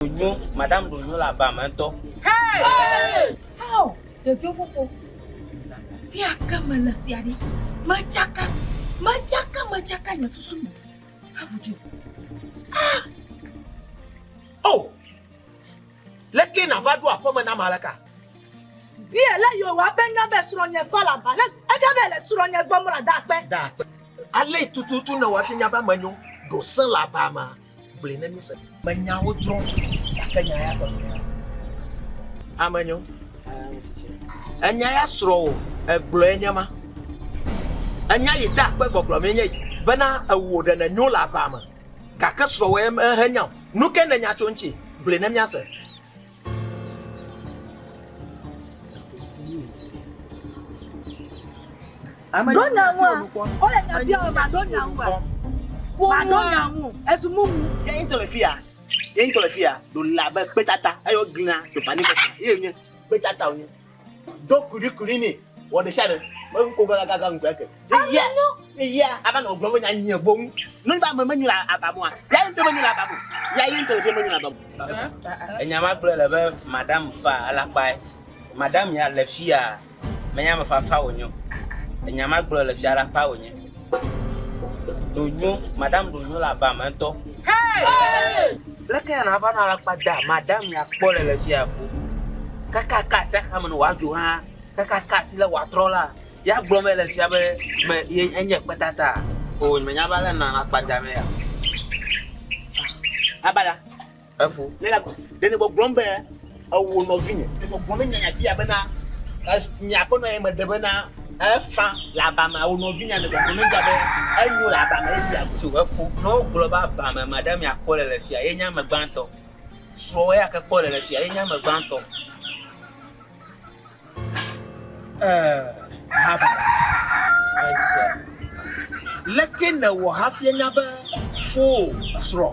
Ɖonyo, madam Ɖonyo le aba me ŋutɔ. How? Ɖeviwo fofo. Fia ke mele fia ɖi. Metsaka, metsaka, metsaka nye susu me. Abudu. Ah! Oh! Leke nava ɖo aƒeme na Maleka? Bia le yo wa be na be srɔ̃nye fa la ba ne ega be le srɔ̃nye gbɔ mla da akpe. Da akpe. Ale tututu ne wa finya ba menyo ɖo se la ba ma. Gblɔe ne mise. Menyawo drɔ gake nya ya gɔme ya. Ame nyo. Enya ya srɔ o, egblɔe nye ma. Enya yi ta akpe gbɔgblɔ mee nye yi bena ewu ɖe ne nyo le aba me gake srɔwɔ ye mehenya o. Nu ke nenya tso ŋuti gblɔe ne miase. ɖo nyaŋua wole nya bia o maɖo nyaŋua maɖo nyaŋu ezu mumu. yé ŋutɔ le fi ya yé ŋutɔ le fi ya ɖo labe kpétata eyɔ gina ɖo pani kpéta yé nye kpétata wonye. do kuɖikuɖi nɛ wɔ ɖe sia ɖe me ŋkɔ gɔla gaga ŋkɔ eke eya eya ava nɔ gblɔm nya nyɛ boŋ nɔ ba me menyo la abamua ya ŋutɔ menyo la abamu ya yi ŋutɔ menyo la abamu enya ma gblɔ le be madam fa alakpa madam ya le fia menya me fafa wonyo enya ma gblɔ le fia alakpa wonyo Ɖonyo, Madam Ɖonyo le aba me ŋutɔ. Leke ya nàva nɔ alakpa dam, Madam ya kpɔ le le fi ya fũ. Kaka ka asi axame ne wòadzo hã, kaka ka asi lé wòatrɔ la, ya gblɔm ele fia be me ye enye kpetata? Oo, nyemenya be ale nànɔ alakpa damee ya o. Abada, Evo. Ne la ɖe ne gbɔgblɔm be ewo nɔvinye. Ne gbɔgblɔm ne nyanya fia bena nye aƒenɔ ye meɖe bena efa le abame awo nɔvinya ne gbɔgblɔm ne be enyo le abame ye fia tso efo. Ne wogblɔ be abame ma ɖe mia kpɔ le le fia ye nye ame gbãtɔ. Srɔ̃wɔ ya ke kpɔ le le fia ye nye ame gbãtɔ. Ɛɛ, haba! Ese. Leke nèwɔ hafi ènya be fowò srɔ̃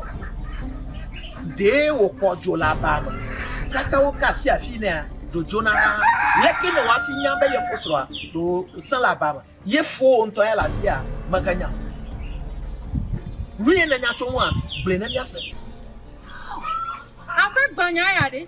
ɖee wòkpɔ dzo le abaa me? Gake woka asi afii nɛa? Dzo dzona hã. Leke nèwɔ hafi ènya be ye fosrɔ̃a ɖe wòsẽ le abaa me? Ye fowò ŋutɔ ya le afia? Mèganya o. Nu ye nènya tso eŋua? Gblɔe na mí ase. Aƒe gbanya ya ɖe?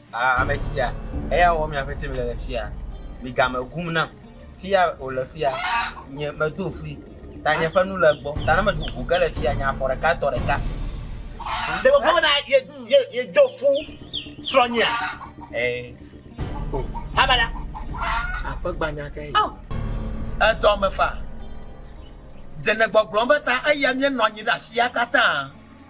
Aa ame tsitsia, eya wɔ miaƒe tim le le fia. Migame gum nam. Fia wòle fia, nye medo fui. Ta nye ƒe nu le gbɔ. Ta ne meɖu ʋu ge le fia, nye afɔ ɖeka tɔ ɖeka. Ɖe wògblɔ bena ye, ye, yedo fu srɔ̃nyea? Ee. O, habada. Aƒe gbanya ke yi. Edɔ me faa. Ɖe nègbɔgblɔm be ta eya míenɔ anyi ɖe afia katã?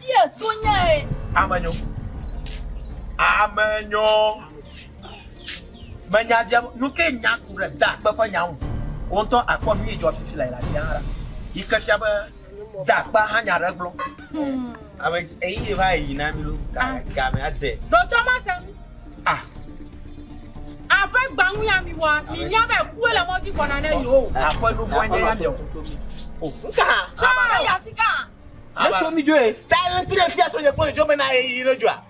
Fia to nyae. Ame nyo. Ame nyo. Me nya dze nu ke nya ku ɖe da akpe ƒe nya ŋu. Wo ŋutɔ akpɔ nu yi dzɔ fifi le la sia hã. Yi ke fia be da akpa hã nya ɖe gblɔ. Hmm. Ame eyi yi va yi na mi lo. Ah. Ga me ade. Do to ma se. Ah. Aƒe gbangu ya mi wa. Mi nya be ku le mɔdzi kɔna ne yo. Aƒe nu fɔ nya ya mi. Oh. Nka. Cha ya fika. Eto mi dzoe. Ta le pire fia so nye kpɔ jo mena ye yi le joa.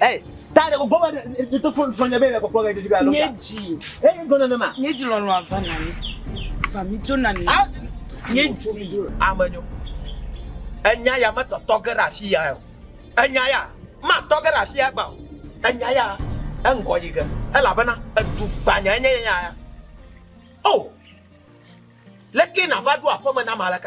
Eh, ta le gbɔ ba de to fon fon nye be le koklo ga de ga lo. Nye ji. Eh, gona na ma. Nye ji lo lo ava na ni. Va mi jo na ni. Nye ji. Amenyo. Enya ya ma to to ge ra fia yo. Enya ya ma to ge ra fia ba. Enya ya engo yi ge. Ela bana edu gbanya enya ya. Oh. Leke na va do afo me na malaka.